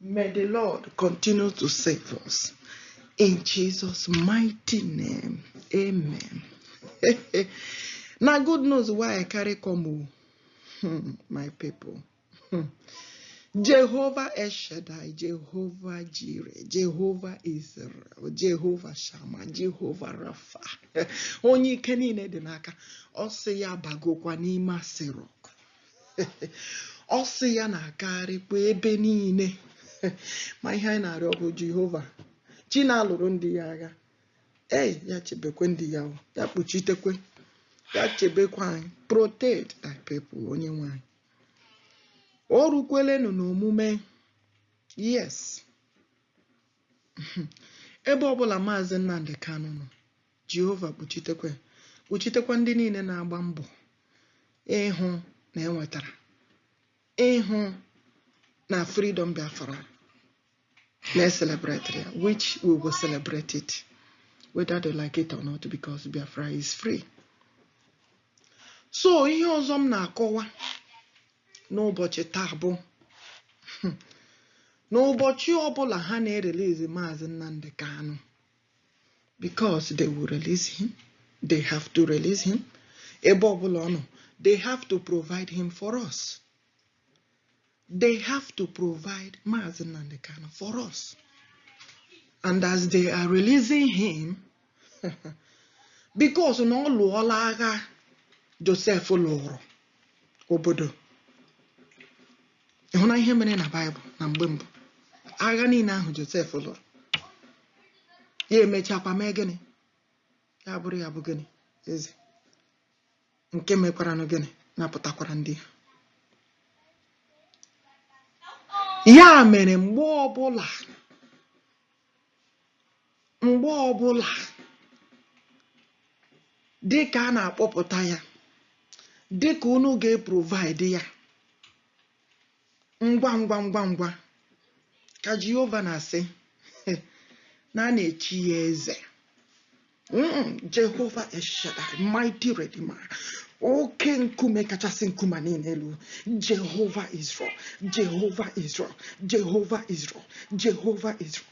May the Lord continue to save us. In Jesus' mighty name. Amen. na good news wey I carry come, oh. hmm, my people. Hmm. Jehovah El Shaddai, Jehovah Jireh, Jehovah Israel, Jehovah Shammah, Jehovah Rapha. Onye ike niile dị n'aka, ọ sị ya bagokwa n'ime asịrị ọkụ. ọ sị ya na-agagharịkwa ebe niile ma ihe anyị na-arịọ bụ jehova chi na-alụrụ ndị ya agha ee ya chebekwa ndị ya ya kpuchitekwe ya chebekwa anyị protect thy people onye nwe anyị o rukwelenụ n'omume yes ebe ọbụla maazị nnamdị kanụ nọ Jehova kpuchitekwa kpuchitekwa ndị niile na-agba mbọ ịhụ na enwetara ịhụ na freedom Biafra na-eselebrate ya which we will celebrate it whether they like it or not because Biafra is free. so ihe ọzọ m na-akọwa n'ụbọchị taa bụ n'ụbọchị ọbụla ha na-erelizi maazị Nnamdi Kanu because they will release him they have to release him ebe ọbụla ọ nọ they have to provide him for us they have to provide Maazị Nnamdi Kanu for us and as they are releasing him because na ọ lụọla agha Josef lụrụ obodo Ị hụla ihe mere na Baịbụl na mgbe mbụ agha niile ahụ Josef lụrụ ya emechakwa mee gịnị ya bụrụ ya bụ gịnị eze nke mekwaranụ gịnị napụtakwara ndị ha ya mere mgbe ọbụla mgbe ọbụla dịka a na-akpọpụta ya dịka unu ga-eprovaịdị ya ngwa ngwa ngwa ngwa ka Jehova na-asị na a na-echi ya eze Jehova El Shaddai mighty redeemer oke nkume kachasị nkume niile elu Jehova Israel Jehova Israel Jehova Israel Jehova Israel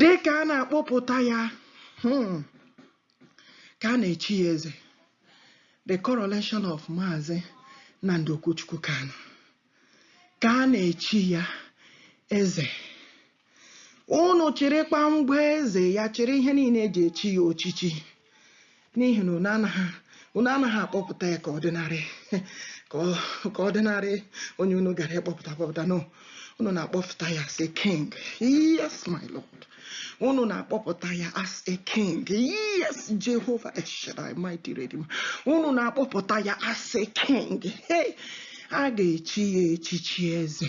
dị ka a na-akpọpụta ya hmm, ka a na-echi ya eze the coronation of Maazị Nnamdi Okwuchukwu Kanu ka a na-echi ya eze unu chịrịkwa ngwa eze ya chịrị ihe niile e ji echi ya ochichi n'ihi na unu anaghị unu anaghị akpọpụta ya ka ordinary ka ọ ka ordinary onye unu gara ịkpọpụta akpọpụta no unu na-akpọpụta ya as a king yes my lord unu na-akpọpụta ya as a king yes jehova El Shaddai mighty redeemer unu na-akpọpụta ya as a king hey a ga-echi ya echichi eze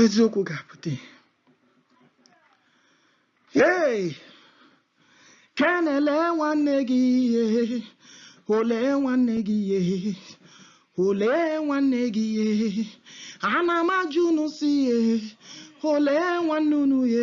eziokwu ga-apụta ihe hey! ken olee nwanne gị e olee nwanne gị e olee nwanne gị e ana m ajụ unu sị e olee nwanne unu e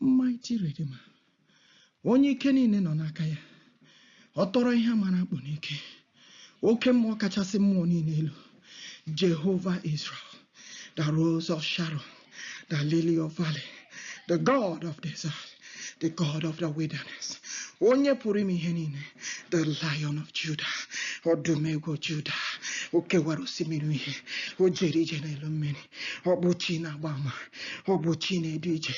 mighty redeemer onye ike niile nọ n'aka ya ọ tọrọ ihe a mara akpụ n'ike oke mmụọ kachasị mmụọ niile elu jehova israel the rose of sharon the lily of valley the god of desert the god of the wilderness onye pụrụ ime ihe niile the lion of judah ọdụm ebo judah o kewara osimiri uhie o jere ije n'elu mmiri ọ bụ chi na-agba ama ọ bụ chi na-edu ije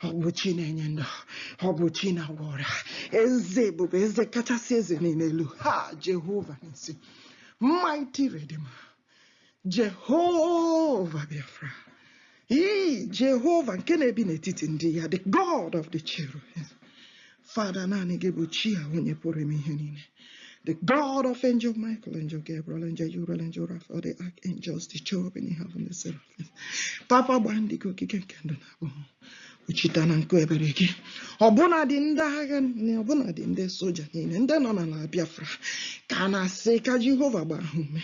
ọ bụ chi na-enye ndụ ọ bụ chi na-agwọ ọrịa eze ebube eze kachasị eze niile elu ha jehova nissi mighty redeemer jehova biafra ii jehova nke na-ebi n'etiti ndị ya the god of the children Father, naanị gị bụ chi a onye pụrụ ime ihe niile. The God of Angel Michael, Angel Gabriel, Angel Uriel, Angel Raphael, the Archangels, the Cherubim in heaven, the Seraphim. Papa gbaa ndị gị ogige nke ndụ na abụọ. Kpuchite ha na nku ebere gị. Ọbụnadị ndị agha niile, ọbụnadị ndị soja niile, ndị nọ n'ala Biafra, ka a na-asị ka Jehova gbaa ha ume,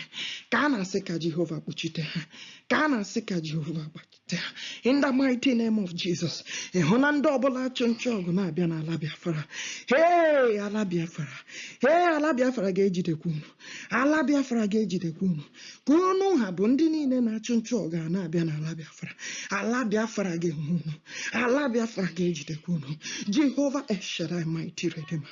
ka a na-asị ka Jehova kpuchite ha, ka a na-asị ka Jehova gbachi. in the mighty name of Jesus ịhụ na ndị ọbụla achụ nchụ ọgụ na-abịa n'ala Biafra ee ala Biafra ee ala Biafra ga-ejidekwa unu ala Biafra ga-ejidekwa unu ka unu ha bụ ndị niile na-achụ nchụ ọgụ a na-abịa n'ala Biafra ala Biafra ga-enwe unu ala Biafra ga-ejidekwa unu Jehova El Shaddai mighty Redeemer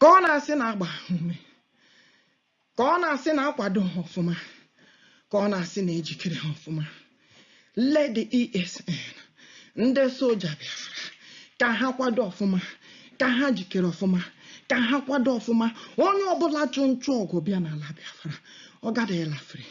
ka ọ na-asị na-agba ha ume ka ọ na-asị na-akwado ha ọfụma ka ọ na-asị na-ejikere ha ọfụma ndị esn ndị soja biafra ka ha kwado ọfụma ka ha jikere ọfụma ka ha kwado ọfụma onye ọbụla chụ nchụ ọgụ bịa n'ala biafra ọ gadịghị ịla free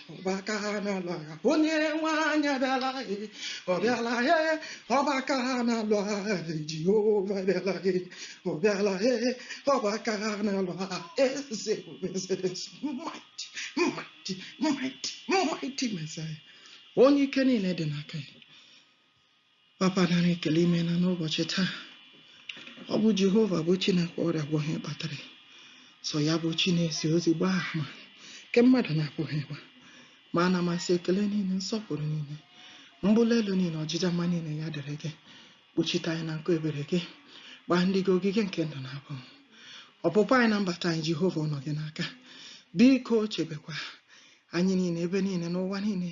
ọgba aka na-alụ agha onyenwe anyị abịala e ọ bịala e ọgba aka na-alụ agha e, jehova bịala e ọ bịala e ọgba aka na-alụ agha eze bụ eze eze mighty mighty mighty mighty messiah onye ike niile dị n'aka ya Papa nara ekele imeela n'ụbọchị taa ọ bụ Jehova bụ chi na-agwọ ọrịa gwọọ ihe kpatara ya. sọ ya bụ chi na-ezi ozi gbaa ama nke mmadụ na-apụghị ịgba ma ana m asị ekele niile nsọpụrụ niile mbuli elu niile ọjịja mma niile ya dịrị gị kpuchite anyị na nku ebere gị gbaa ndị gị ogige nke ndụ na abụ ọpụpụ anyị na mbata anyị Jehova ọ nọ gị n'aka biko chebekwa anyị niile ebe niile n'ụwa niile